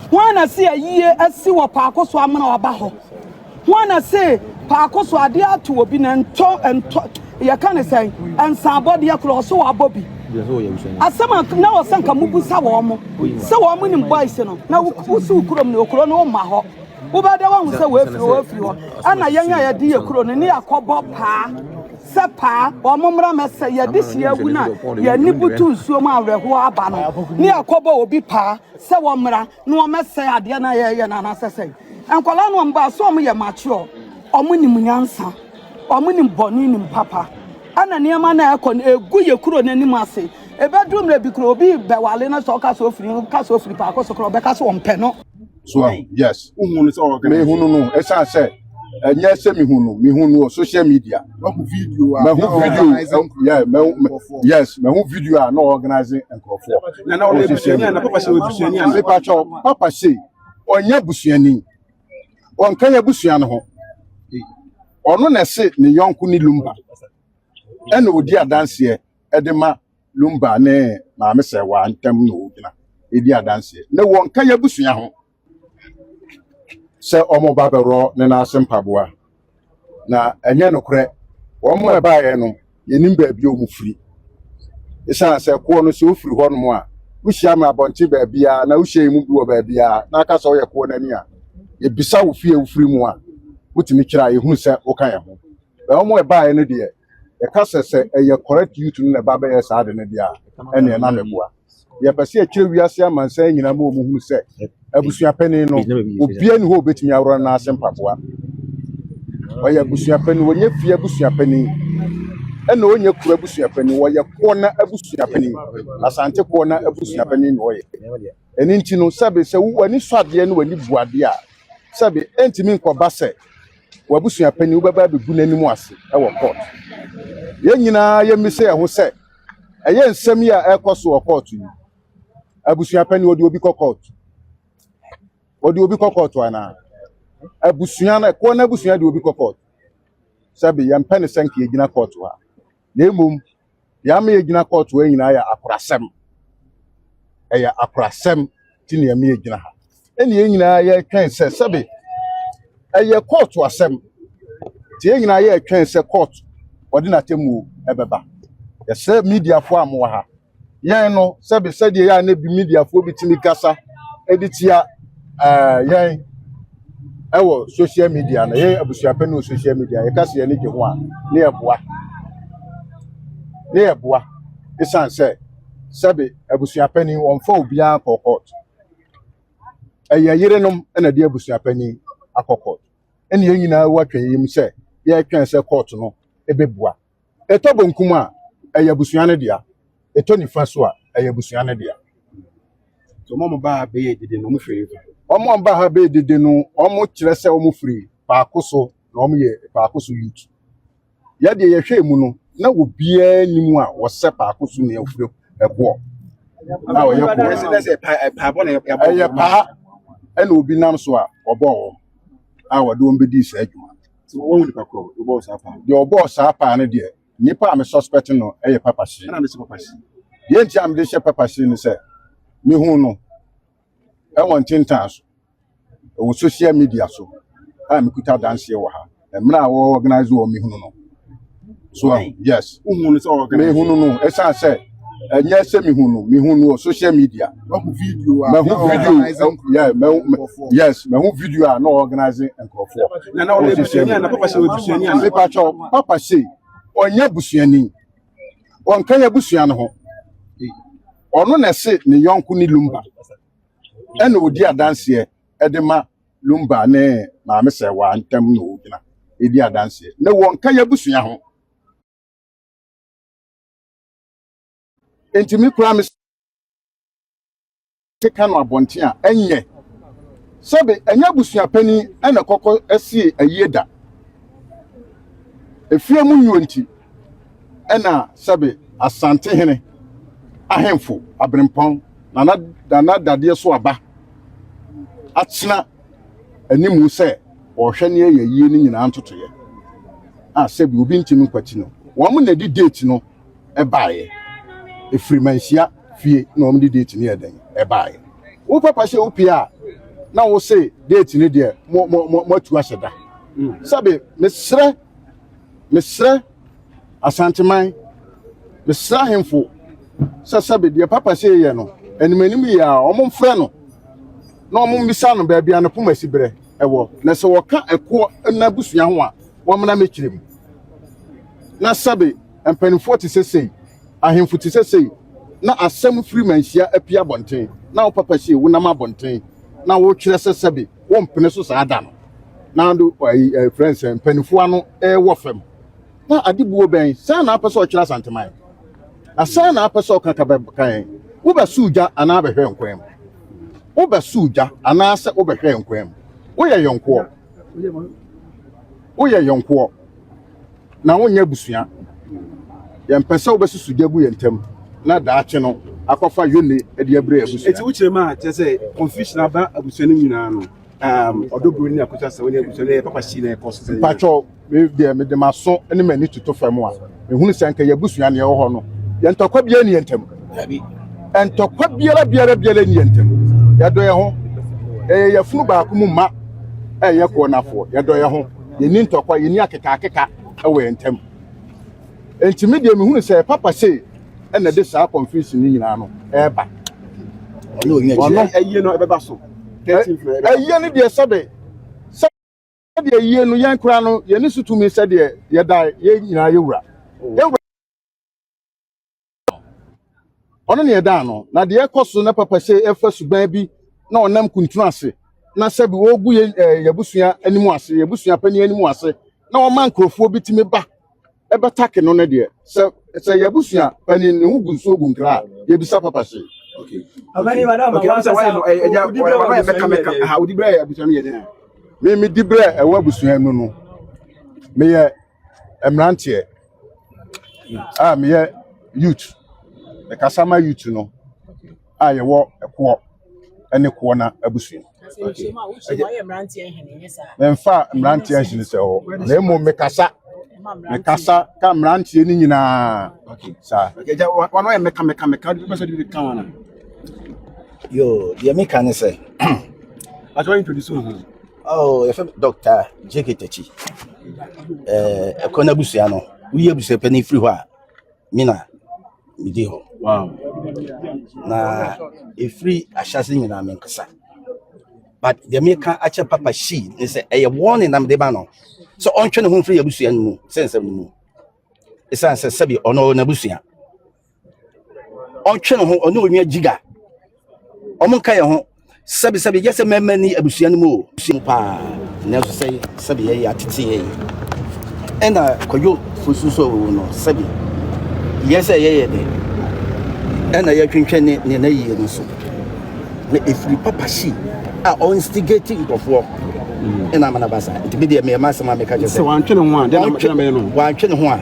Hwan na se ayie asi wɔ paako so amena ɔba hɔ? Hwan na se paako so adeɛ ato obi na ntɔ ntɔ yɛka ne sɛn nsaabɔdeɛ korɔ ɔse wabɔ bi? Asɛm a na wɔ sɛ nka mobusa wɔn mo sɛ wɔn mo nim boys no na wosi wo kurom ne okuro no womma hɔ wobɛda wahu sɛ wɔafiri hɔ wɔafiri hɔ ɛna yɛn a yɛde yɛ kuro no ne yɛakɔbɔ paa sɛ paa wɔn mmra mɛsɛ yɛde hyia awu no a yɛne butu nsuo mu awerɛhoɔ aba no ne yɛakɔbɔ obi paa sɛ wɔmmra na wɔmmɛsɛe adeɛ no a yɛreyɛ no anaasɛ sɛn. Nkwadaa no a wɔbaa so wɔyɛ mature, wɔnim nyansa, wɔnim bɔne nim papa. Ɛna nneɛma no a ɛkɔ no ɛgu yɛ kuro no anim ase. Ɛbɛduru mmerɛ bi kuro obi bɛwale no sɛ ɔka sɛ ofiri no ka sɛ ofiri paako so kora ɔbɛka sɛ wɔmpɛ no. So ahu? Yes. Wohuu no sɛ ɔwɔ Ghana? Mehunu no ɛsiane sɛ. ɛnyɛ sɛ mehu no mehu no wɔ social media mahu video a mahu video yeah mahu yes mahu video a na organize nkurɔfoɔ wɔ social media mepakyɛw papa se ɔnyɛ busuani ɔnka yɛ busua no ho ɔno na ɛse ne yɔnko ne lumba ɛna ɔdi adanseɛ ɛde ma lumba ne maame sɛ wɔantam na ɔgyina ɛdi adanseɛ na wɔnka yɛ busua ho sɛ wɔreba abɛworɔ ne nan ase mpaboa. Na ɛnyɛ nokorɛ, wɔn a ɛbaeɛ no, yɛnnim baabi a wɔfiri. Ɛsiane sɛ koɔ no, sɛ wofiri hɔnom a, wohyia me abɔnten baabiara na wohyia yɛn mu bi wɔ baabiara na aka sɛ woyɛ koɔ no ani a, yɛbisa wo fie a wofiri mu a, wotumi kyerɛ a yɛhunu sɛ woka yɛn ho. Bɛn wɔn a ɛbaeɛ no deɛ, yɛka sɛ sɛ ɛyɛ correct youth no na ɛba bɛyɛ saa ade no deɛ a, ɛnneɛ na meboa. Yɛpɛ sɛ yɛkyerɛ wiase amansan nyinaa ma wɔhunu sɛ abusua panin no, obiara nni hɔ a obetumi aworɔ no nan ase mpaboa. Ɔyɛ abusua panin, ɔnyɛ fie abusua panin, ɛna ɔnyɛ kuro abusua panin, ɔyɛ koɔ na abusua panin, Asante koɔ na abusua panin na ɔyɛ. Ɛno nti no, sɛbe sɛ wo- w'ani sɔ adeɛ ne w'ani bu adeɛ a, sɛbe ɛntumi nkɔba sɛ w'abusua panin wobɛba abɛgu n'anim ase wɔ court. Yɛn nyinaa yɛmmisa yɛn ho sɛ, Ɛyɛ nsɛm yi a ɛrekɔ so wɔ kɔɔto yi. Abusua panin, wɔde obi kɔ kɔɔto. Wɔde obi kɔ kɔɔto anaa? Abusua no, ɛkoɔ no abusua de obi kɔ kɔɔto. Sɛbe, yɛmpɛ ne sɛ nka yɛgyina kɔɔto ha. Na mmom, deɛ ama yɛgyina kɔɔto ha nyinaa yɛ akorasɛm. Ɛyɛ akorasɛm nti na ɛma yɛgyina ha. ɛne yɛn nyinaa yɛtwɛn sɛ sɛbe ɛyɛ kɔɔto asɛm nti yɛn nyinaa yɛtwɛn sɛ kɔɔt wɔde n'atemmuo ɛbɛba yɛsrɛ mediafoɔ a mowɔ ha yɛn no sɛbe sɛdeɛ yɛ a na bi mediafoɔ bi tumi kasa ɛde tia ɛɛ, yɛn ɛwɔ social media no yɛn abusuapɛ no wɔ social media yɛka sɛ yɛne gye ho a ne yɛboa ne yɛboa ɛsiane sɛ sɛbe abusuapɛ ni wɔmfa obiara nkɔ kɔɔt ɛyɛ yerenom na ɛde abusua panyin akɔ kɔɔto ɛna yɛn nyinaa wɔ atwɛnyɛ mu sɛ yɛretwɛn sɛ kɔɔto no ɛbɛbua ɛtɔ bonkum a ɛyɛ abusua no dea ɛtɔ nifa so a ɛyɛ abusua no dea so wɔn a baa bɛyɛ dede no wɔn firi nifa wɔn a baa ha bɛyɛ dede no wɔn kyerɛ sɛ wɔn firi paako so na wɔn yɛ paako so youth Yɛ deɛ yɛhwɛɛ mu no, na obiara nni mu a ɔsɛ paako so nea ofiri ɛkoɔ a ɔyɛ koɔ. Ɛsɛ dɛ sɛ pa ɛpaa bɔ na yɛbɔ wɔn. Ɛyɛ paa ɛna obi nam so a ɔbɔɔ wɔn a wɔde wɔn bɛdii saa adwuma. Sɛ wɔn wɔn nipa korɔ ɔbɔɔ saa paa. Deɛ ɔbɔɔ saa paa no deɛ nipa a me suspect no ɛyɛ Papa Hyee. Ɛna de hyɛ Papa Hyee. Deɛ nti a mede hyɛ Papa Hyee ne sɛ mehuu no. Ɛwɔ ntentan so, ɛwɔ social media so a mekuta adanseɛ wɔ ha. Mmerɛ a wɔ organise wɔ mehunu no. So ahu, yes. Wohu no sɛ organise? Mehunu no, ɛsiane sɛ ɛnyɛ sɛ mehu no, mehu no wɔ social media. Mahu video a mahu video, yeah, mahu, yes, mahu video a na organise nkurɔfoɔ. Na na ɔyɛ busuani a na papa sɛ ɔyɛ busuani a? Mepatwɔ, papa sɛ ɔnyɛ busuani. ɔnka yɛn abusua no ho. Ɔno na ɛse ne yɔnko ne Lumba, ɛna ɔdi adanseɛ de ma Lumba ne Maame Sɛwaa ntam na ɔgyina di adanseɛ. Na wɔnka yɛn abusua ho. Enti me koraa me te ka no abɔnten a, ɛnyɛ. Sɛbe, ɛnyɛ abusua panin na ɛkɔkɔ sie ayie da. Efie mu nnuro nti na sɛbe Asantehene ahemfo Aberempɔn Nana Nana Dadeɛ so aba atena animu sɛ ɔrehwɛ nea ɛyɛ yie no nyinaa ntotoeɛ a sɛbe obi ntumi nkwati no. Wɔn na ɛde date no baeɛ. Ɛfiri Manhyia. fie na wɔn de date no yɛ dɛn ɛbaeɛ. Wo papa hyɛ wo pia a na wo se date no deɛ mo mo mo mo atu ahyɛ da. Sɛbe me srɛ me srɛ Asanteman me srɛ ahemfo sɛ sɛbe deɛ papa sei yɛ no anim anim yie a wɔn mfrɛ no na wɔn mmisa no baabi a ne poma si berɛ ɛwɔ na sɛ wɔka ɛkoɔ na abusua ho a wɔmmra me kyerɛ mu na sɛbe mpanimfoɔ te sɛ sei, ahemfo te sɛ sei, na asɛm firi manhyia apue abɔnten, na wo papa sie wonam abɔnten, na wokyerɛ sɛ sɛbe wompene so saa da no. Na ado ayi ɛfrɛ no sɛ mpanimfoɔ ano ɛwɔ fam. Na adebuo bɛn sɛn na apɛ sɛ ɔkyerɛ Asanteman? Na sɛn na apɛ sɛ ɔka ka bɛka yɛn? Wobɛsoo gya anaa bɛhwɛɛ nkwan mu? Wobɛsoo gya anaasɛ wobɛhwɛɛ nkwan mu? Woyɛ yɔnkoɔ? Woyɛ yɔnkoɔ? na wonyɛ abusua. Yɛmpɛ sɛ wobɛsusu gya gu yɛn ntam na daakye no akɔfa Yone de abrɛ yɛn abusua. Enti wo kyerɛ mu a kyerɛ sɛ confusion aba abusua no nyinaa no, um, ɔdɔ bro ne akokyerɛ sɛ wo ne abusua no ɛyɛ papa hyii na ɛkɔ so sɛ. Mpakyɛw, me deɛ mede m'aso ne m'ani toto fam a, mehunu sɛ anka yɛn abusua nea ɛwɔ hɔ no, yɛn ntɔkwa biara nni yɛn ntam. Dabi. Ntɔkwa biara biara biara nni yɛn ntam. Yɛdɔ yɛn ho. Yɛyɛ yafunu baako mu mma a ɛyɛ koro nafoɔ. Yɛdɔ yɛn ho. Yɛnni ntɔkwa, yɛnni akekaakeka wɔ yɛn ntam. Enti me deɛ mehunu sɛ Papa sei na ɛde saa confusion no nyinaa no reba. Ɔno. Ayie no ɛbɛba so. Ayie no deɛ sɛbe, sɛdeɛ ayie no yɛn koraa no yɛne so tumi sɛdeɛ yɛda yɛn nyinaa yɛwura. Yɛwura. Ɔno na yɛda ano. Na deɛ ɛkɔ so na papa sɛ ɛfa suban bi na ɔnam kuntunu ase na sɛbi wɔregu yɛ ɛɛ yɛbusua anim ase yɛbusua panyin anim ase na wɔma nkurɔfoɔ bi tumi ba ɛbɛtake no ne deɛ sɛ sɛ yɛbusua panyin ne ho gu nsuo gu nkra a yɛbisa papa sɛ. Okay. Okay. Okay. I'm sorry. No, I, I, I, I, meka meka. Ha, odi bere a abusua no yɛ den. Me me di bere a ɛwɔ abusua no no. Me yɛ mmeranteɛ a meyɛ youth, mekasa ma youth no a yɛwɔ ɛkoɔ ne koɔna abusua. Memfa mmeranteɛ nhene sɛ hɔ na mmom mekasa mekasa ka mmeranteɛ no nyinaa saa. Wɔn yɛ meka meka meka de bɛsɛ de ka wɔn. Yo, deɛ meka ne sɛ. Atwa introduce wo ho. Oh, yɛfrɛ me Dr. JK Takyi. Eh, ɛkɔ no abusua no, woyi abusua pɛ no firi hɔ a, me na medi hɔ. Wow. Na ɛfiri ahyɛse nyinaa me nkasa. But deɛ meka akyɛ Papa Shi ne sɛ ɛyɛ warning na mede ba no sɛ ɔntwe ne ho mfiri abusua no mu sɛ nsɛm no mu. Ɛsiane sɛ sɛbi ɔno ɔwɔ n'abusua. ɔtwe ne ho ɔne onua jiga ɔmo nka yɛn ho sɛbi sɛbi yɛ sɛ mɛmɛ ni abusua no mu o abusua mu paa nanso sɛ sɛbi yɛ yɛ atete yɛ yi ɛna kwadwo fosu so owu no sɛbi yɛ sɛ yɛ yɛ de ɛna yɛ twentwɛn ne ne na yie no so na efiri papa shi a ɔnstigate nkurɔfoɔ ɛna amana basa nti bi deɛ mɛɛma asɛm a mɛka kyɛ sɛ sɛ wantwe ne ho a deɛ na mɛyɛ no wantwe ne ho a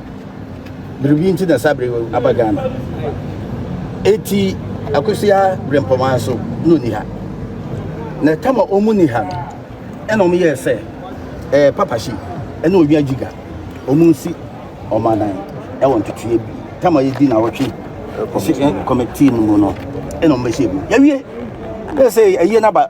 biribi nti na saa bere aba ghana eti akosia brempɔmaa nso na ɔni ha na ɛtam a ɔmu ni ha no ɛna ɔmo yɛɛ sɛ ɛɛ papahye ɛna ɔwia gyiga ɔmo nsi ɔma nan ɛwɔ ntotoeɛ bi tam a yɛdi na wɔtwe kɔmɛtii no mu no ɛna ɔmo bɛhyɛ mu yɛwie akasɛ ɛyie naba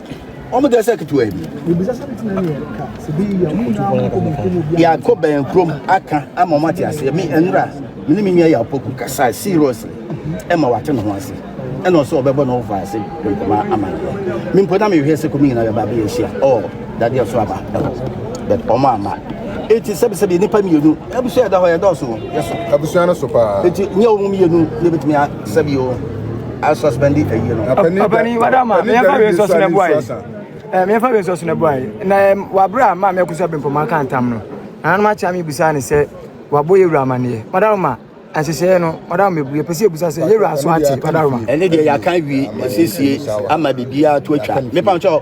wɔn deɛ sɛ ketewa bi yɛakɔ bɛn kurom aka ama wɔn ate aseɛ me nwura me ne me nua yɛapoku kasa seriously ɛma wate ne ho ase ɛna ɔsɛ ɔbɛbɔ ne ho fa ase nkɔma ama ne ho me mpo na mehwɛ sɛ kɔmi nyina yɛba bɛyɛ hyia ɔ dadeɛ so aba ɛhɔ but ɔmo ama eti sɛbisɛbi nipa mmienu abusua yɛda hɔ yɛdɔɔso yɛso abusua no so paa eti nyɛ wɔn mmienu na ebetumi Sɛbi o, a suspend ayi no. Ɔpani wada ma me fa we nso so na buai. Eh me fa we nso so na buai. Na wabra ma me akusa bempo ma kan tam no. Ana ma cha me busa ne sɛ wabɔ yewura amane. Madam ma ahyehyɛ no madam mebue pese ebusa sɛ yewura so ate madam ma. Ɛne deɛ yɛakan wie yɛsiesie ama biribiara to atwa. Mepa nkyɛ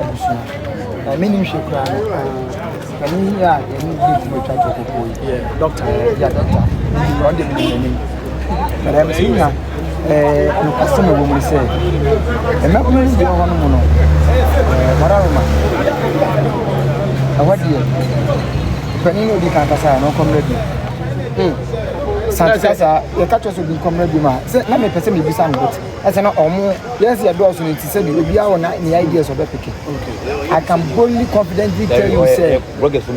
abusua na me ni nhwɛ kura no na me yi a yɛ ni bi ti mo twa to koko yi yɛ dɔkta yɛ dɔkta yi ɔde mi yɛ ni na dɛm si nya ɛɛ nkwasi na wɔn mu sɛ ɛmɛ kunu bi wɔ hɔ no mu no ɛɛ mara roma ɛwɔ deɛ panyin obi kan kasa yɛ no kɔmrɛ bi hmm santisa saa yɛ ka kyerɛ so bi kɔmrɛ bi ma sɛ na mi pɛ sɛ mi bisa no bɔtɔ. Ɛsɛ na ɔmo yɛn sɛ yɛdɔɔso no nti sɛbi obiara wɔ na ne ideas ɔbɛpeke. I can boldly confidently tell you sɛ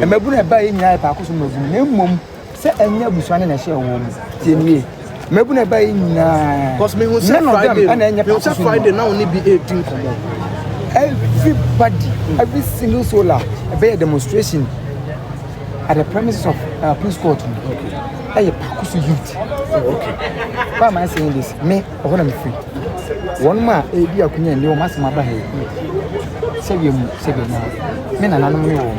mmabunu a ɛbaeɛ nyinaa yɛ paakoso mmabunu na mmom sɛ ɛnyɛ abusua no na ɛhyɛɛ wɔn mu. Tie me yie. Mmabunu a ɛbaeɛ nyinaa Cause me hu sɛ none of them Friday ɛna ɛnyɛ no, me hu sɛ paakoso Friday nnwuma. na ɔne bi ɛredi nkɔmmɔ. Everybody, every single soul a ɛbɛyɛ demonstration at the premises of uh, police court no ɛyɛ paako so youth why am i saying this me ɔhɔ na mefiri wɔn mu a ɛredi akonya nni wɔn asɛm aba ha yi sɛdeɛ mu sɛdeɛ mu a me nananom ne wɔn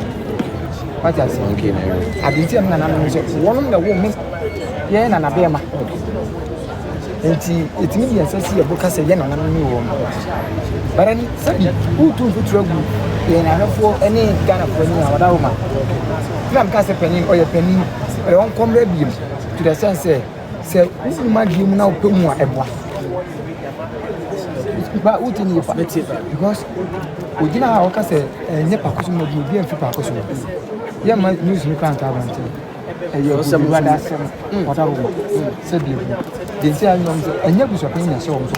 wagye ase adeɛ nti a me nananom sɛ wɔn na wɔn mu yɛn nana bɛrima Enti yɛtumi de yɛn nsa si yɛn bo ka sɛ yɛn nananom ne wɔn mmoa. Bara ni sɛbi woretu mfuturo agu yɛn ahwɛfoɔ ne Ghanafoɔ ani a wɔda hɔ ma. Na meka sɛ panin, ɔyɛ panin, ɔyɛ wɔn kɔmmrɛ biom to the sense sɛ sɛ wonim adeɛ mu na wopɛ mu a ɛboa. Ba wotie ne yɛ fa because ogyina a wɔka sɛ ɛnyɛ paako so na obi obi amfi paako so. Yɛmma news no kora nka abɔnten. ɛyɛ obiara da asɛm ɔda hɔ sɛ bi ehu deɛ nti a nyɛ ɔmo sɛ ɛnyɛ abusuapɛn na ɛhyɛ ɔmo so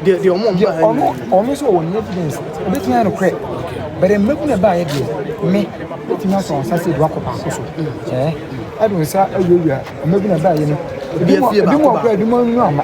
deɛ deɛ ɔmo deɛ ɔmo ɔmo nso wɔ ne evidence ebetumi ayɛ no korɛ bɛrɛ mmegu na ɛbaa yɛ deɛ me ebetumi asɔ nsa sɛ edu akɔ baako so ɛɛ ɛdo nsa ɛwia wia mmegu na ɛbaa yɛ no ebi mu ebi mu akora ebi mu anu ama.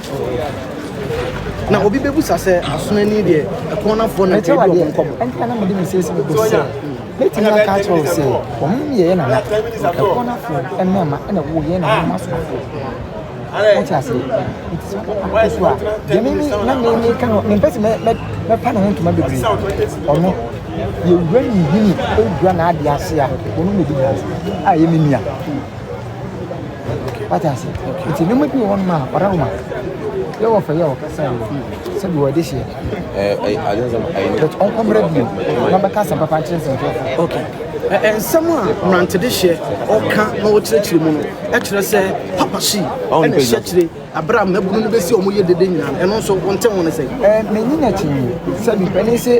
Na obi bɛbisa sɛ, Aso ani deɛ, ɛkɔɔnafoɔ na ɛtwa adi wɔn nkɔmmɔ? Ɛnti na na mede me seesei bɛbɔ sɛ, Mɛtumi aka akyerɛ wo sɛ, wɔn ne yɛn nana, ɛkɔɔnafoɔ mmarima na wɔwɔ yɛn nananom asomafoɔ. Wote aseɛ? Nti sɛ ɔno na ɔkɔ so a, deɛ me ne na me meka no, mempɛ sɛ mɛpa ne ho ntoma bebree. Ɔno, yɛwura ne nhini, ɔwura n'adeɛ ase a, ɔno na ɛdi nyinaa so. A ɛyɛ me nua. wate ase nti nneɛma bi wɔ hɔ nom a ɔda homa yɛ wɔ fɛ yɛ wɔ kasa yi sɛbi wɔ ɛde hyɛ but ɔnkɔ mmerɛ bio na bɛka asɛm papa nkyerɛ sɛ nkurɔfo okay nsɛm a mmerantede hyɛ ɔka na ɔkyerɛkyerɛ mu no ɛkyerɛ sɛ papa si ɛna ɛhyɛ kyerɛ Bere a mmabunu no besi a wɔyɛ dede nyinaa no, ɛno nso wonte ho no sɛn? Ɛɛ, m'ani na kyinii. Sɛbi, panin se,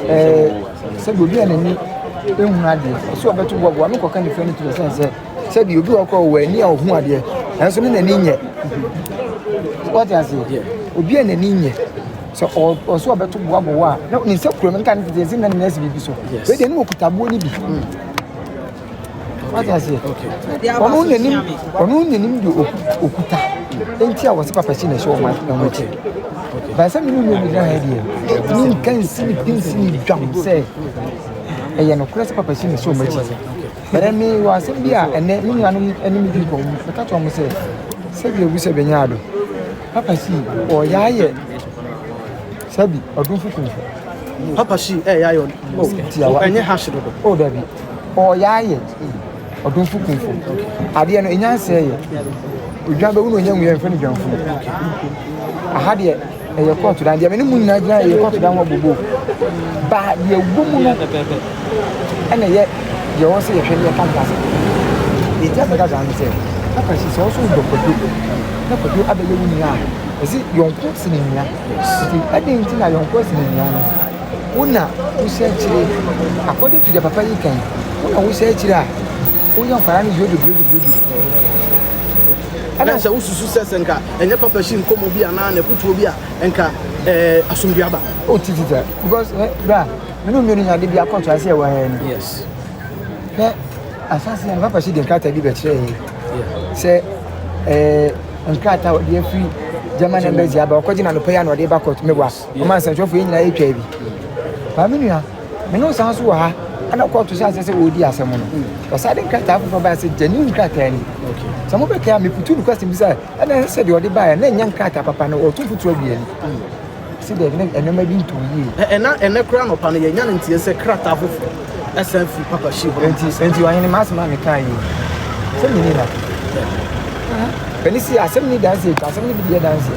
ɛɛ, sɛbi obi a n'ani ehunu adeɛ, ɔse ɔbɛto boaboa ano kɔka ne fɛ no tiri sɛn sɛ, sɛbi obi wɔ kɔ wɔ ani a ɔhu adeɛ, nanso ne n'ani nyɛ. Wɔte ase? Obi a n'ani nyɛ, sɛ ɔse ɔbɛto boaboa a, na ne nsa kura mu, nka ne tete nse na ne nan si biribi so. Wei deɛ, na ɔkuta aboɔ no bi. wate aseɛ ɔno nanim ɔno nanim de okuta nti a wɔsɛ papa si na ɛhyɛ wɔn wɔn akyi baasa mi num ebi gyina ha deɛ ne nka nsi ne pinsi ne dwam sɛ ɛyɛ no korɛ sɛ papa si na ɛhyɛ wɔn akyi bɛrɛ mi wɔ asɛm bi a ɛnɛ mi nuanom ɛne mi di nkɔm ɛka kyerɛ wɔn sɛ sɛbi ewu sɛ bɛnya ado papa si ɔyɛ ayɛ. Sɛbi, ɔdomfo kumfo. Papa Shi ɛyɛ ayɛ ɔdomfo kumfo. Ɛnyɛ hash dodo. O dabi, ɔyɛ ayɛ ɔdomfo kumfo. Adeɛ no, ɛnya nsɛɛ yɛ. Odwan bɛwu na ɔnya nwuiɛ mfɛ no dwanfunu. Aha deɛ, ɛyɛ kɔɔto dan. Deɛ me ne mu nyinaa gyina ɛyɛ kɔɔto dan ho abobo. Ba deɛ wɔ mu no, ɛna ɛyɛ deɛ ɔwɔ sɛ yɛhwɛ ne yɛka nka sɛ. Ɛti asɛ gaga no sɛ, Papa Shi sɛ ɔso dɔ kwadwo na kwadwo abɛyɛ wo nua a, ɛsi yɔnko sene nua. Enti adɛn nti na yɔnkoɔ sene nua no? Wo na wosi akyire according to deɛ papa yi kan wo na wosi akyire a woyɛ nkwadaa no duro duro duro duro. Ɛna sɛ wosusu sɛ sɛ nka ɛnyɛ papa hyi nkɔmmɔ bi anaa na ɛkotuo bi a nka ɛɛ eh, asomdua aba. O oh, ti ti ta because ɛ eh, bra mene mmienu nya de bi akɔto ase ɛwɔ ha ni. Yes. Hɛ asase yɛn papa hyi de nkrataa bi bɛkyerɛ yɛ. sɛ ɛɛ nkrataa ɔde afiri german embassy aba ɔkɔgye na anɔpa yi ana ɔde ba court meboa ɔma nsɛntwerɛfoɔ yɛ nyinaa yɛtwa bi maame nua me ne wo san so wɔ ha ana court sɛ asɛ sɛ wɔredi asɛm no ɔsan de nkrataa foforɔ baa sɛ gyani nkrataa ni sɛ mobɛkae a meputu no question bi sɛ ɛna ɛsɛ sɛ deɛ ɔde baeɛ na ɛnyɛ nkrataa papa no ɔto fotuo aduani Si dɛ ne nneɛma bi ntɔw yie. Na ɛna ɛnnɛ koraa anɔpa no yɛanya no nteɛ sɛ krataa foforo asian fi Papa Xi hɔ. Enti, enti Ɔhene, m'asɛm a mekae yi, sɛ minni na. M'ani si asɛm no danseɛ nti, asɛm no bi deɛ danseɛ.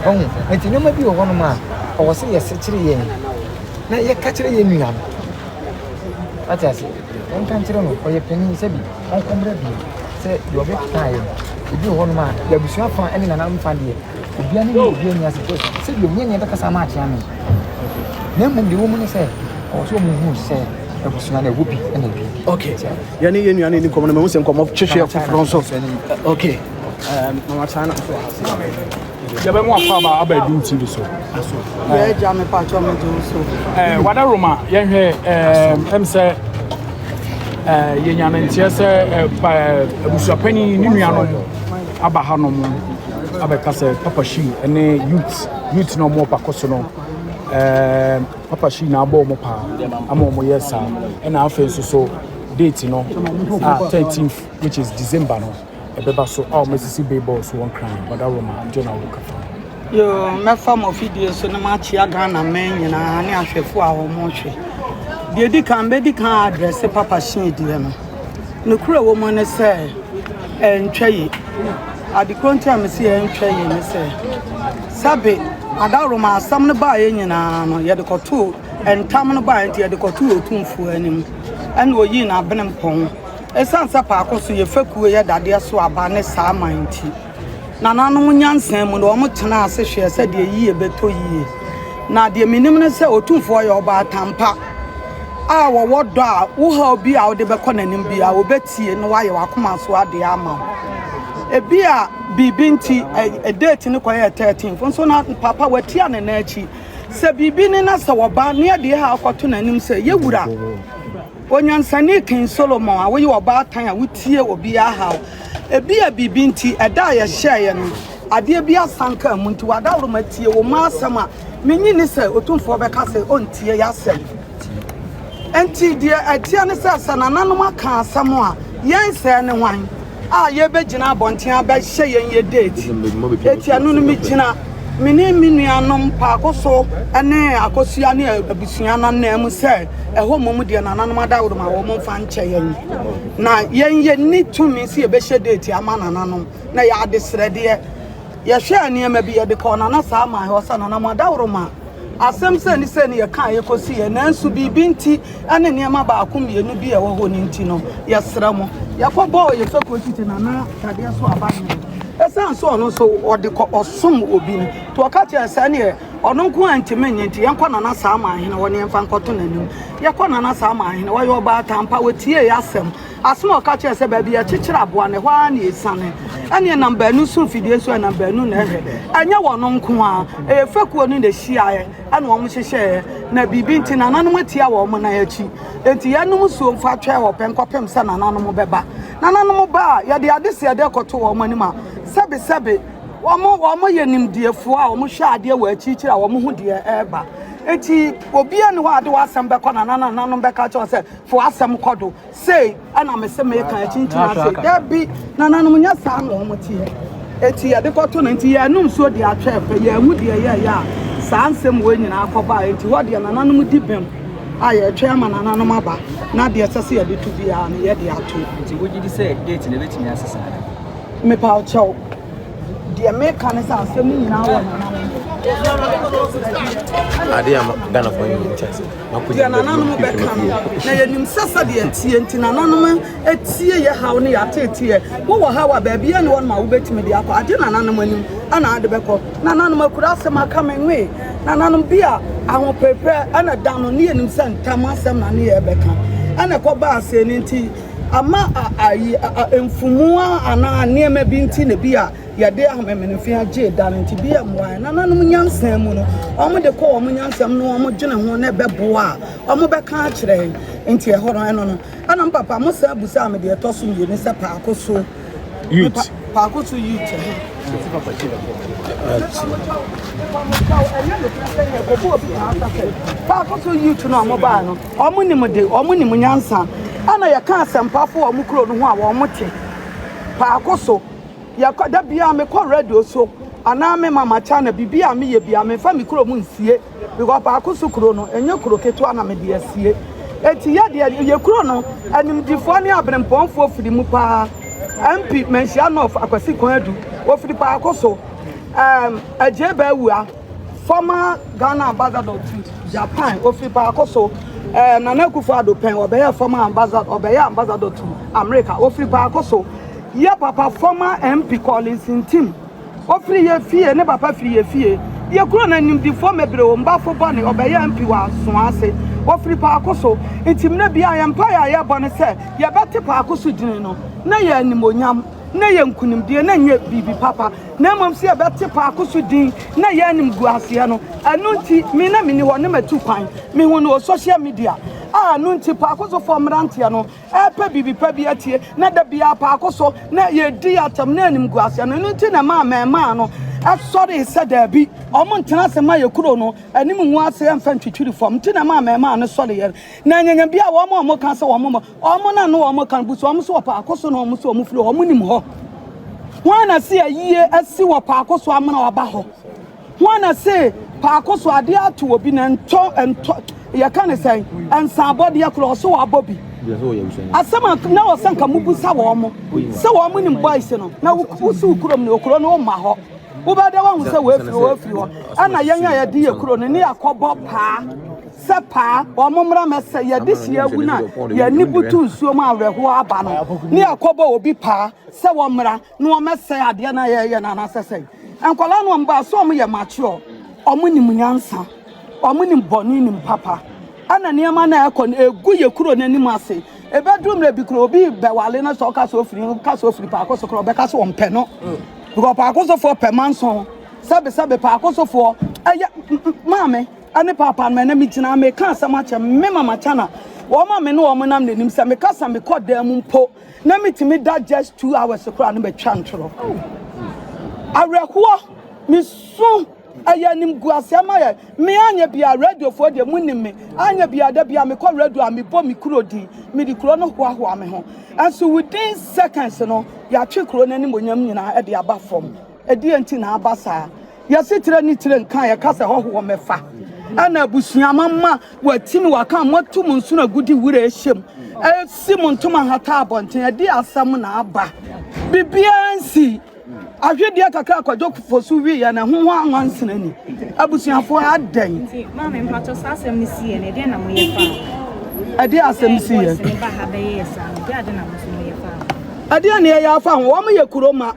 Wahu? Enti nneɛma bi wɔ hɔnom a, ɛwɔ sɛ yɛsekyere yɛn, na yɛka kyerɛ yɛn nua no. Wate ase? Yɛnka nkyerɛ no, ɔyɛ panin, sɛ bi, ɔnkɔmmra bio, sɛ deɛ ɔbɛkeka ayɛ no. Ebi wɔ hɔnom a, yɛn abusua fã ne nananom fã deɛ, Obiara ne ne obiara nni asɛm sɛ sɛbi ɔnyɛ nea ɛbɛkasa ama akyea me na mmom deɛ wɔmu ne sɛ ɔwɔ sɛ ɔmu hu sɛ abusua no ɛwɔ bi ɛna ɛbi okay yɛne yɛ nua no ɛni nkɔmmɔ no mahu sɛ nkɔmmɔ twehwɛ foforɔ nso okay mama kyana na nso ɔhase yɛbɛmu akɔ aba aba adum tv so yɛagya me patwɔ me gye so wada roma yɛhwɛ ɛm sɛ yɛnya no nteɛ sɛ abusuapanin ne nuanom aba ha nom abɛka sɛ Papa Shi ne youth youth na wɔn ɔpako so no ɛɛ Papa Shi na abɔ wɔn paa ama wɔn yɛ saa ɛna afei nso so date no a thirteenth which is December no ɛbɛba so a wɔn asisi billboard so wɔn kran Badaroma nti na wɔka fa. Yoo mɛfa mo fidie so na makyia Ghana mɛn nyinaa ne ahwɛfo a wɔn hwɛ. Deɛ di kan bɛdi kan adrɛse Papa Shi deɛ no. Nokorɛ wɔ mu ne sɛ, ɛntwa yi. Ade korɔ nti a mese ɛntwa yi ne sɛ, sɛbe adaworoma asɛm no baeɛ nyinaa no, yɛde kɔtoo ntam no baeɛ nti, yɛde kɔtoo Otumfoɔ anim, ɛna ɔyii n'abenempɔn. Ɛsiane sɛ paako so yɛ fekuo yɛ dadeɛ so aba ne saa man nti. Nananom nyansa mu na wɔtenaa ase hwɛɛ sɛ deɛ yiye bɛtɔ yiye. Na deɛ menim ne sɛ Otumfoɔ yɛ ɔbaatan pa a ɔwɔ dɔ a wo haw bi a wode bɛkɔ n'anim biara ɔbɛtie na wayɛ w'akoma so adeɛ ama wo. Ebia biribi nti ɛ date no kɔyɛɛ 13th nso na papa watia ne nan akyi. Sɛ biribi ni na sɛ wɔba ne yɛde yɛ haw kɔto n'anim sɛ, Yɛwura, Onyansani King Solomon a woyɛ ɔbaatan a wotie obiara haw, Ebia biribi nti, ɛda a yɛhyɛeɛ no, adeɛ bi asan kaa mu nti, w'adaworo ma tie wo mma asɛm a, mennye nni sɛ Otumfoɔ bɛka sɛ ɔntie y'asɛm. Enti deɛ ɛteɛ ne sɛ, sɛ nananom aka asɛm a, yɛn sɛɛ ne hwan a yɛbɛgyina abɔnten abɛhyɛ yɛn yɛ date? Enti ɛno no megyina me ne me nuanom Paako So ne Akosua ne abusua no ananmu sɛ ɛhɔ mmom deɛ nananom adaworo ma wɔmfa nkyɛ yɛn. Na yɛn yɛnni tumi sɛ yɛbɛhyɛ deeti ama nananom, na yɛ adesrɛdeɛ. Yɛhwɛɛ nneɛma bi, yɛde kɔɔ Nana Saamae hɔ sɛ, Nana, mo adaworoma asɛm sɛne sɛne yɛkaa yɛkɔsiiɛ, nanso biribi nti ne nneɛma baako mmienu bi a ɛwɔ hɔ no nti no, yɛsrɛ mo. Yɛkɔbɔɔ yɛn fekuo tete Nana Dadeɛ so aba hene. Ɛsiane sɛ ɔno nso ɔde kɔ ɔsom obi nti, ɔka kyerɛɛ yɛn sɛ ɛnneɛ, Ɔno nko a ntumi nyɛ nti yɛnkɔ nana saa ma ahene hɔ ne yɛmfa nkɔto n'anim. Yɛkɔ nana saa ma ahene wɔyɛ ɔbaatan pa wɔtiee asɛm. Asɛm a ɔka kyerɛɛ sɛ baabi yɛkyekyere aboa no ɛhɔ ara na ɛsiane. Ɛneɛ nam baanu so mfidie nso ɛnam baanu na ɛhwɛ. Ɛnyɛ wɔn nko a ɛyɛ fekuo no na ɛhyiaeɛ ɛna wɔn hyehyɛeɛ na biribi nti nananom atia wɔn nan akyi. Enti yɛnom suo mfa twɛn wɔ pɛ nkɔpem sɛ nananom bɛba. Nananom ba a yɛde adeseɛ dɛ kɔto wɔn anim a sɛbesɛbe wɔn wɔn yɛ nimdeɛfoɔ a wɔn hwɛ adeɛ wɔ akyirikyiri a wɔn ho deɛ ɛreba eti obiara ni hɔ a de w'asɛm bɛkɔ na nana nanom bɛka kyerɛ sɛ fo asɛm kɔ do sei ɛna me se meka akyinkyini ase dabi nananom nyɛ saa na wɔn teɛ eti yɛde kɔto no nti yɛnum nsuo deɛ atwa ɛfɛ yɛn mu deɛ yɛyɛ a saa nsɛm wɔ nyinaa kɔba a eti hɔ deɛ nananom di bɛm a yɛtwɛn ama nananom aba na deɛ ɛsɛ sɛ yɛde to biara no yɛde ato. nti wogye di sɛ date na ebetumi asesa. Mepaw kyɛw, deɛ meka ne sɛ asɛm no nyinaa wɔ nananom. Ade a Ghanafoɔ nyɛ nkyɛ sɛ deɛ nananom bɛka no, na yɛnim sɛ sɛdeɛ ɛteɛ nti nananom atie yɛ haw ne yɛateeteɛ. Wowɔ haw a baabiara ne hɔnom a wobɛtumi de akɔ, agye nananom anim ana ade bɛkɔ. Nananom akura asɛm aka me nwe, nananom bi a ahopereperɛ ɛna da no ne yɛnim sɛ ntam asɛm na ne yɛrebɛka ɛna ɛkɔbaa sɛɛ no nti. ama a ayi mfumu a anaa nneɛma bi nti na bi a yɛde amemenefe agye da no nti bi a mmoa nananom nyansa mu no wɔn de kɔ wɔn nyansam no wɔn dwene ho na ɛbɛboa a wɔn bɛka akyerɛ nti ɛhɔ no ɛno no ɛna papa mo sɛ abusa me deɛ ɛtɔ so mmienu sɛ paako so youth paako so youth paako so youth no a wɔn baa no. Wɔn nimde, wɔn nim nyansa. Ɛna yɛka asɛmpafo wɔ wɔn kuro no ho a wɔn te. Paako so, yɛkɔ da biara mekɔ radio so anaa me mama channel bibi a meyɛ biara mefa me kuro mu nsie because paako so kuro no ɛnyɛ kuro ketewa na mede asie. Eti yɛ deɛ yɛ kuro no animdifoɔ ne abrempɔnfoɔ firi mu paa. MP Manhyia North Akwasi Kwan Adu ofiri paako so. Um, Agye Bawua. Former Ghana Ambassador to Japan, Ofiri Baako So, eh, Nana Akufo-Addo Pɛn, Ɔbɛyɛɛ Former Ambassador, Ɔbɛyɛɛ Ambassador to America, Ofiri Baako So, Yɛ Papa Former MP Collins Ntim, Ofiri Yɛ Fie, Ne Papa Firi Yɛ Fie, Yɛ Kuro No Animdifoɔ Mebre O Mbafo Bɔne, Ɔbɛyɛɛ MP wɔ Asoase, Ofiri Paako So, Ntim Nnɛ Biara Yɛn Mpaeɛ A Yɛbɔ Ne Sɛ Yɛbɛte Paako So Gyini No, Ne Yɛ Animuonyam, Ne Yɛ Nkunimdie, Ne Nyɛ Biribi Papa. na mmom sɛ yɛbɛte paako so din na yɛn animguaseɛ no, ɛno nti me na meni hɔ ne matu kwan. Mehu no wɔ social media a ɛno nti paako sofoɔ mmeranteɛ no repɛ biribi pa bi atie na da biara paako so na yɛdi atɛm na animguaseɛ no, ɛno nti na ɛmaa mmarimaa no sɔree sɛ daabi, wɔn ntena ase ma yɛ kuro no anim ngu ase mfa ntwitwiri fam, nti na ɛmaa mmarimaa no sɔreeɛ no, na anyanya bi a wɔn a wɔka sɛ wɔn Wɔn na no wɔn kan busu wɔn so wɔ paako so na wɔn so wɔn firi hɔ wɔn nim hɔ. Wɔn na se ayie asi wɔ paako so amena waba hɔ. Wɔn na se paako so adeɛ ato obi na ntɔ ntɔ yɛka ne sɛn nsaabɔdeɛ korɔ ɔso wabɔ bi. Asɛm a na wɔ sɛ nka mobusa wɔn sɛ wɔn nim boys no na wosi wo kurom ne okuro no woma hɔ wobɛda wahu sɛ wɔafiri wɔafiri hɔ ɛna yɛn a yɛde yɛ kuro no ne yɛakɔbɔ paa. Sɛ paa, wɔn mmra mmɛsɛ yɛn adesua awu no a, yɛn ani butu nsuo mu a awerɛhoɔ aba no, ne yɛkɔbɔ obi paa sɛ wɔmmra na wɔmmɛsɛe adeɛ no a yɛreyɛ no anaasɛ sɛn? Nkwadaa no a wɔba a, so wɔyɛ mature? Wɔnim nyansa, wɔnim bɔne, nim papa, ɛna nneɛma no a ɛrekɔ no, ɛgu yɛn kuro no anim ase. Ɛbɛduru mmerɛ bi kura obi bɛwale no sɛ ɔka sɛ ofiri, ɔka sɛ ofiri paako so kora, ɔbɛka sɛ ɔmpɛ no. Because paako sofoɔ pɛ manson, sɛbesɛbe paako sofoɔ ɛyɛ maame. ne Paapa no, ɛnnɛ megyinaa mereka asɛm akyɛ me mama Chana. Wɔn a me ne wɔn nam n'anim sɛ meka sɛ mekɔ dan mu mpo na metumi da just two hours koraa no matwa ntoro. Awerɛhoɔ, mesu, ɛyɛ animguaseɛ ma yɛ. Me anyɛ bia radiofoɔ deɛ mu nim me. Anyɛ bia da bia mekɔ radio a mebɔ me kuro din. Mede kuro no hoahoa me ho. Ɛnso within seconds no, yɛatwe kuro no animonyam nyinaa de aba fam. Ɛdeɛn nti na aba saa? Y'asetra ni tire nka a yɛka sɛ hɔhoɔ mɛfa ɛna abusua mama watim waka moatu mo nsono agudi wura ɛhyɛm ɛsi mo ntoma hata abɔnten ɛde asɛm na aba bibiara nsi ahwedeɛ kakra akwadwo kofo so wi yɛ na ɛho ho anwansena ni abusuafoɔ adɛn ɛde asɛm si yɛ ɛdeɛ na ɛyɛ afa ho wɔn yɛ kuro ma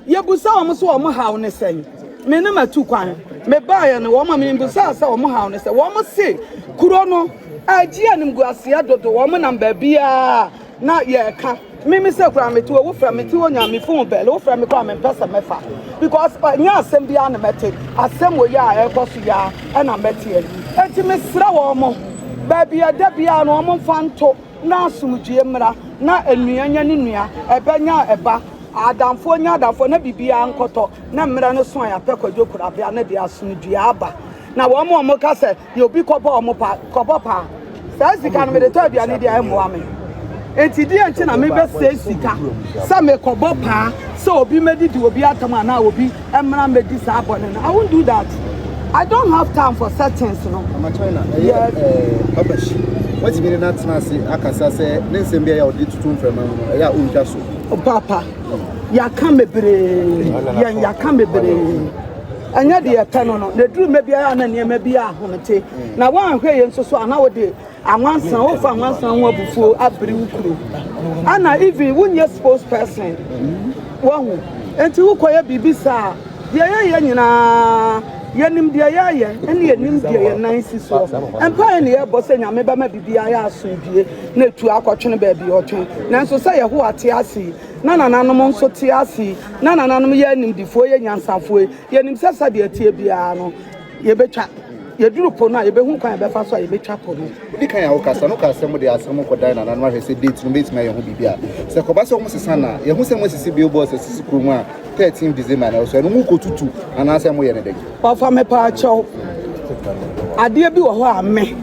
Yɛbisa wɔn sɛ wɔn haw ne sɛn. Me ne m'atu kwan. Mebaeɛ no, wɔn a mebisaa sɛ wɔn haw ne sɛ, wɔn se kuro no agye animguaseɛ dodo, wɔn nam baabiara a na yɛreka. Me me sɛ koraa mete hɔ, wofrɛ me, mete hɔ nyinaa me phone bell, wofrɛ me koraa mempɛ sɛ mɛfa because ɛnyɛ asɛm biara na mɛte, asɛm wɔ yi a ɛrekɔ so yi ara ɛna mɛteɛ. Enti mesrɛ wɔn baabi a ɛda biara no wɔn mfa nto. na asomdwoeɛ mmra, na nua nya ne nua, ɛba nya ɛba, adamfoɔ nya adamfoɔ, na biribiara nkɔtɔ, na mmerɛ no so a yɛapɛ Kwadwo Korabea no deɛ, asomdwoeɛ aba. Na wɔn a wɔka sɛ, deɛ obi kɔbɔ wɔn pa, kɔbɔ paa, saa sika no mede tɔ aduane deɛ, ɛmmoa me. Enti deɛn nti na mebɛsɛe sika sɛ mekɔbɔ paa sɛ obi mmɛdidi obi atɛm anaa obi ɛmmra mmɛdi saa bɔne no. I won't do that. I don't have time for such things no. Mama China, ɛyɛ yes. ɛɛ Papa Shi, wɔtumi ne n'atena ase akasa sɛ ne nsɛm bi a yɛ a ɔde tutu mframa mu no ɛyɛ a ɔntwa so. Oh, papa, yɛaka bebree, yɛn yɛaka bebree. ɛnyɛ deɛ ɛpɛ no no na ɛduru mma biara na nneɛma bi ahomete mm. na woanhwɛ yɛ nso so ana wode Anwansa wofa anwansa ho abufuo abiri wo kuro ana even wonyɛ sports person wahu enti wokɔyɛ biribi saa deɛ yɛyɛ nyinaa yɛnim deɛ yɛyɛ ɛne yɛnim deɛ yɛn nan si soɔ mpaeɛ ne yɛbɔ sɛ nyame bɛma biribi ayɛ asomdue na ɛtu akɔtwene baabi ɔtwe nanso sɛ yɛhowa te ase na nananom nso te ase na nananom yɛ animdifoɔ yɛ nyansafoɔ yɛnim sɛ sɛdeɛ ɛteɛ biara no Yɛbɛtwa. Yɛduru po no a, yɛbɛhu kwan a yɛbɛfa so a yɛbɛtwa po no. Odi kan a ɔkasa no kaa sɛ wɔde asɛm kɔdan nananom ahwɛ sɛ date no betumi ayɛ ho biribi a sɛ ɛkɔba sɛ wɔsesa no a, yɛahu sɛ moasisi billboards asisi kurom a 13 December na ɛwɔ so, ɛno mokotutu anaasɛ moyɛ no dɛn? Ɔfa mepaakyɛw, adeɛ bi wɔ hɔ a me,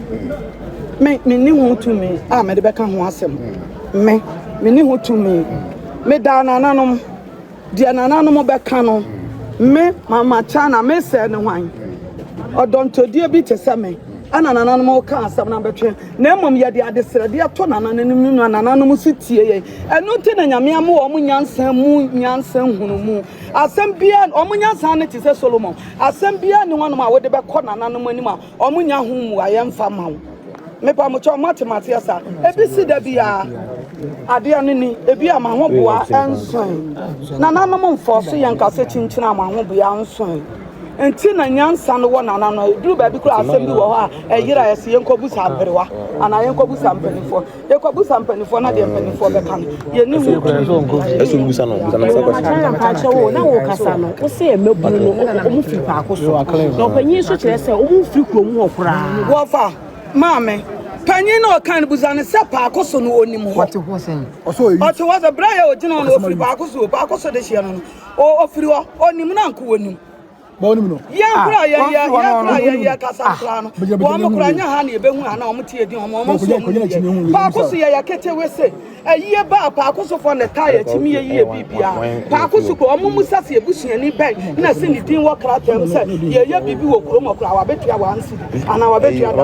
me, menni ho tumi a mede bɛka ho asɛm. Me, menni ho tumi. Medaa nananom. Deɛ nananom bɛka no, me, Mama Chana, mesɛe ne hwan? Ɔdɔntɔdie bi te sɛ me na nananom reka asɛm no abɛtwe, na mmom yɛde adesrɛdeɛ to nananom no na nananom nso tie yɛn. Ɛno nti na Nyame ama wɔn nyansa mu nyansa nhunumu. Asɛm biara, wɔn nyansa ano te sɛ Solomon. Asɛm biara nni hɔnom a wode bɛkɔ nananom anim a Ɔmo nya ho mmuaeɛ mfa ma wo. Mepamokyɛw moate maseɛ sa? Ebesi da biara adeɛ no ni. Ebia m'ahoboa nsoe. Nananom mfɔɔ so yɛn kasa kyinkyin a m'ahoboa nsoe nti na nyansa no wɔ nananom. Eduru baabi koraa asɛm bi wɔ hɔ a ɛyera ɛse yɛnkɔ busa aberewa anaa yɛnkɔ busa mpaninfoɔ. Yɛkɔbusa mpanimfoɔ no adeɛ mpanimfoɔ bɛka no, yɛne ho tumi. Ɛsɛ wobusa no busa no sɛ kwasi. Matara mpakyɛ wo na wokasa no wo sɛ mmabunu no ɔmo firi paako so na ɔpanyin nso kyerɛ sɛ ɔmo mfiri kurom hɔ koraa. Wɔfa maame panyin na ɔka no busa no sɛ paako so no onim hɔ. Ɔte hɔ sɛn? Ɔte hɔ sɛ berɛ a yɛ ɔgyina hɔ no ɔfiri paako so o paako so dehyeɛ no no ɔfiri hɔ ɔnim no anko ɔnim. yɛnkora yɛyɛ yɛnkora yɛyɛ kasa koraa no wɔn mo koraa nyɛ ha na yɛbɛhu ha na wɔn tie din wɔn wɔn nso wɔn yɛ paako so yɛyɛ ketewe se ɛyie baa paako so fɔ na ɛtaa yɛ kyimi yɛ yie bibia paako so kɔ wɔn mu sa se ebusuani bɛn na se ne din wɔ krataa mu sɛ yɛyɛ biribi wɔ kurom wɔ koraa wabetua wɔn ansi anaa wabetua da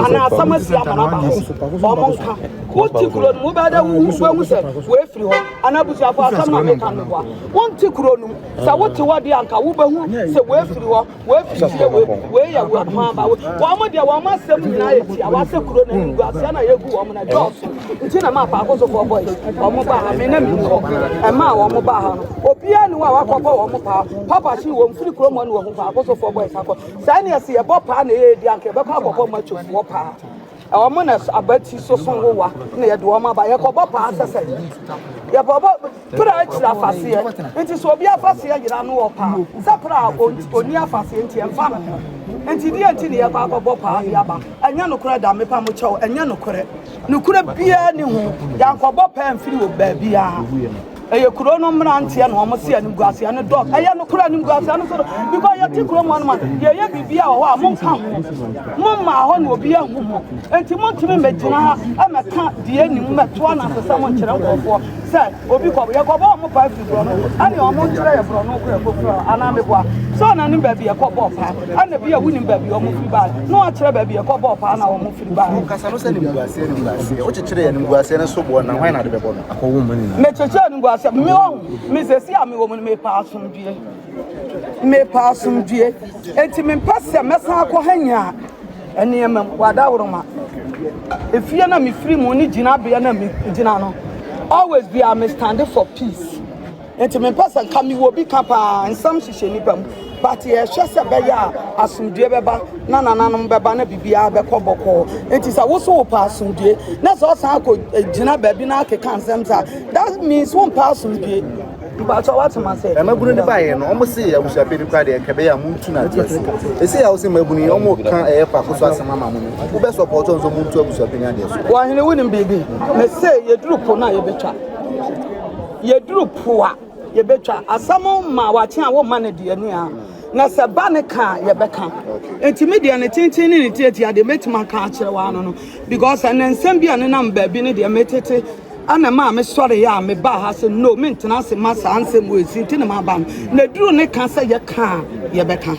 anaa asɛm asi ama na ba ho wɔn nka wonti kuro no mu bɛda wuhu wɔn mu sɛ wɔafiri hɔ anaa abusuafo asɛm na meka no boa wonti kuro no mu sɛ wote hɔ deɛ anka wobɛhu sɛ woafiri hɔ woafiri fie wei wei yɛ wo akwan ma wo wɔn mo deɛ wɔn mo asɛm nyinaa yɛ tia wɔasɛ kuro no anim guaseɛ na yɛgu wɔn na dɔɔso nti na ma apaako sofoɔ bɔ yi wɔn mo baa ha me na menni hɔ ɛmaa wɔn mo baa ha no obiara ne hɔ a wakɔbɔ wɔn mo paa papa hye wɔn firi kuro mu ne wɔhu paako sofoɔ bɔ yi sakɔ saa ne ɛsɛ yɛbɔ paa na ɛyɛ di anka yɛbɛkɔ akɔbɔ machofoɔ paa Wɔn na abati soso nwowa na yɛde wɔn aba. Yɛkɔbɔ paa sɛsɛ. Yɛbɔbɔ pra akyiri afaseɛ. Nti sɛ obi afaseɛ yera no wɔ paa sɛ pra a ɔnni afaseɛ nti ɛmfa ne ho. Nti deɛ nti na yɛkɔ akɔbɔ paa de aba. Ɛnyɛ nokorɛ da mepa mo kyɛw ɛnyɛ nokorɛ. Nokorɛ biara nni ho. Yɛankɔbɔ paa mfiri wɔ baabiara. Ɛyɛ kuro no mmeranteɛ na wɔn se animguaseɛ no dɔɔso. Ɛyɛ no kura animguaseɛ no so do because yɛte kuro mu hɔ no ma yɛyɛ biribi a wɔ hɔ a monka ho. Mo mmaa hɔ na obi ahu mo. Enti montumi mmɛgyina ha mmɛka deɛ nim mmɛto anasesɛm nkyerɛ nkurɔfoɔ sɛ obi kɔ yɛkɔbɔ wɔn paa firi borɔno ɛne wɔn nkyerɛ yɛ borɔno kɔ yɛkɔ firi hɔ anaa meboa sɛ ɔnanim baabi yɛkɔbɔɔ paa ɛna bi a wonim baabi wɔn firi baeɛ na wɔakyerɛ baabi yɛkɔbɔɔ paa na wɔn Ba, ɔkasa no sɛ animguaseɛ, animguaseɛ. Wokyekyere animguaseɛ no so boɔ na hwan na ade bɛbɔ no? Akɔwo mo nyinaa. Mekyekyere animguaseɛ. Me ɔho, me sɛsi a mewɔ mu no, mepɛ asomdwie. Mepɛ asomdwie. Enti mempɛ sɛ mɛsan akɔ Hanya nneɛma mu, w'adaworoma. Efie no a mefiri mu ne gyinabea no a megyina no, always biara me stande for peace. Nti me mpɛ sɛ nka me wɔ bi ka paa nsɛm hyehyɛ nipa mu but yɛ hwɛ sɛ bɛyɛ a asomdue bɛba na nananom bɛba na biribiara bɛkɔ bɔkɔɔ nti sɛ woso wo paa asomdue na sɛ ɔsan akɔ gyina eh, baabi na akeka nsɛm sa that means wo mpaa asomdue mpatsɔ wate ma sɛ ɛmabunu ne baayɛ no ɔmo se yɛ abusuapɛ no kora deɛ nka bɛyɛ a montu no adeɛ ase ɛsɛ yɛ wo sɛ mabunu yi ɔmo ka ɛyɛ faako so asɛm ama mo no wobɛ sɔpɔtɔ nso montu abusuapɛ no adeɛ so wɔhene wonim biribi me se yɛduru po no a yɛbɛtwa Yɛduru po a, yɛbɛtwa. Asɛm ma wakye a, womma no aduane a, na sɛ ba no ka a, yɛbɛka. Enti me deɛ ne tenten ne ne tiatia deɛ, mɛtumi aka akyerɛ wo ano no, because ɛnɛ nsɛm bi a nenam baabi no deɛ, metete ɛna ɛma a mesɔreeɛ a mebaa ha sɛ no, mentena ase mma saa nsɛm wei nti na maba no. Na ɛduru ne ka sɛ yɛka a, yɛbɛka.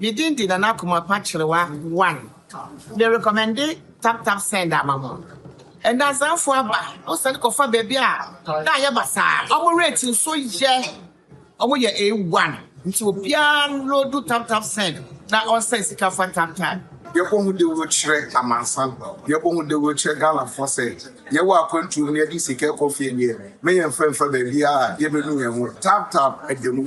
Me din de Nana Komapa Kyerewa one. Me rekɔmɛnde Tap Tap Send ama mo. Nnansafoɔ aba, mo sane kɔfa baabi a na ayɛ basaa. Wɔn rate nso yɛ, wɔn yɛ A one. Nti obiara nloodu Tap Tap Send na ɔnsɛn sika fa Tap Tap. Yɛbɔ ho dawuro kyerɛ amansan, yɛbɔ ho dawuro kyerɛ Ghanafoɔ sɛ yɛwɔ akwantuo mu na yɛde sika rekɔ fie deɛ, mɛyɛmfa mfa baabiara a yɛbɛnu yɛn ho. Tap Tap da mu.